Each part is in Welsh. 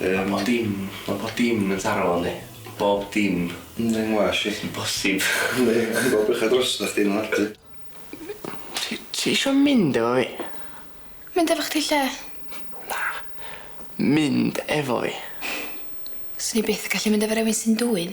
Mae dim, mae bob dim yn taro fo yndi? Bob dim. Yndi yn well i. Yn bosib. Yndi, ti'n gweld bechod drosta chdi yn y Ti ti isio mynd efo fi? Mynd efo chdi lle? Na. Mynd efo fi. Swn i byth yn gallu mynd efo rywun sy'n dwyn.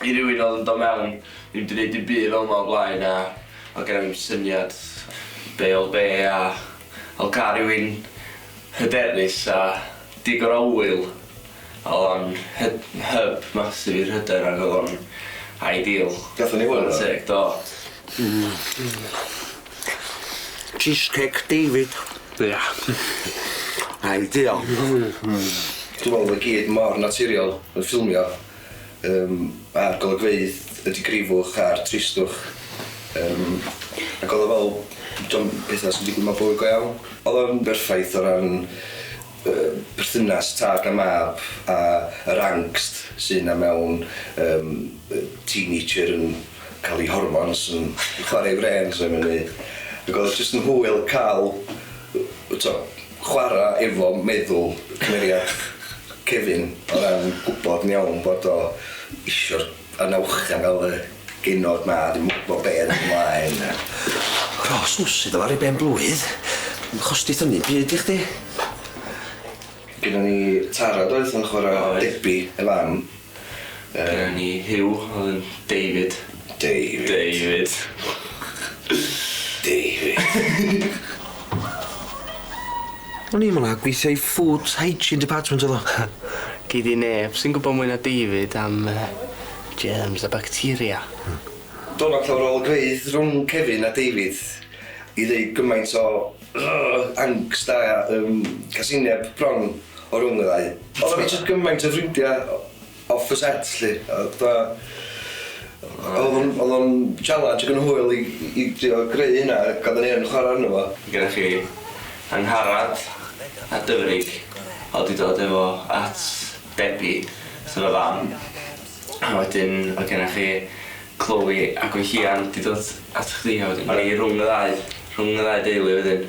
I rywun oedd yn dod mewn, ni wedi neud dim byd fel 'ma o blaen a oedd genna fi'm syniad be' oedd be' a oedd gan rywun hyderus a digon o ŵyl a oedd o'n hyd- hyb massive i'r hyder ag oedd o'n ideal. Gathon ni hwyl do? Chwara teg do. Cheesecake David. Ia. Ideal. Hmm hmm. Dwi me'wl bo' fe gyd mor naturiol yn ffilmio yym a'r golygfeydd y digrifwch a'r tristwch yym ag o'dd o fel 'di o'm petha sy'n digwydd mewn bywyd go iawn. O'dd o'n berffaith o ran y perthynas tad a mab a yr angst sy' 'na mewn yym yy teenager yn ca'l 'i hormons yn chware 'i frêns a mynd i... Ag o'dd o jyst yn hwyl ca'l yy t'o' chwara efo meddwl cymeriad Kevin o ran gwbod yn iawn bod o isio'r Yn awchgar o fy genod ma dwi'm yn gwbo be' ddaw mlaen na. Ros w sydd fel ar ei ben blwydd ddim yn chostith ynny byd i chdi. Gynnon ni Tara doedd yn chwara Debbie ei fam. Yy. Gynnon ni Huw oedd yn David. David. David. David. O'n i'm yna, gweithio i food hygiene department o'dd o. Gei di neb sy'n gwbo mwy na David am yy germs a bacteria. Hmm. Do' na llawer o olygfeydd rhwng Kevin a David i ddeud gymaint o yy angst a yym casineb bron o rwng y ddau. Oddan ni jys gymaint o ffrindia o- off the set 'lly a fatha o'dd o'n o'dd o'n challenge ag yn hwyl i i drio greu hynna a ga'l fy neb yn chwara arno fo. Gennych chi Angharad a Dyfrig o'dd 'di dod efo at Debbie sef y fam a wedyn ma' gennych chi Chloe a Gwenllian 'di dod at chdi a wedyn 'dan ni rwng y ddau rhwng y ddau deulu wedyn.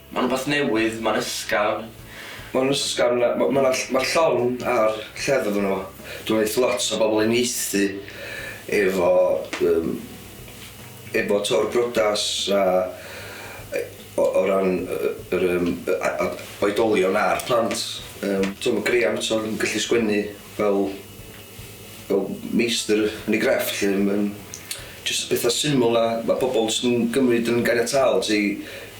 Mae'n rhywbeth newydd, mae'n ysgafn. Mae'n ysgafn, mae 'na... mae'r llong a'r lleddf ynddo fo. Dwi'n meddwl wneith lot o bobl uniaethu efo yym efo Töwr Briodas a yy o o ran yy yr yym yy a- a- oedolion a'r plant. Yym t'mo' ma' Graham eto yn gallu sgwennu fel fel meistr yn ei grefft 'lly yym jyst petha syml 'na ma' pobol jyst yn gymryd yn ganiataol ti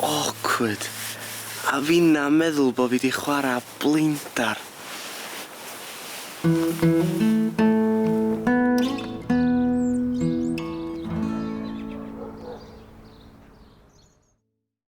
Awkward. A finna meddwl bo fi di chwara blinder.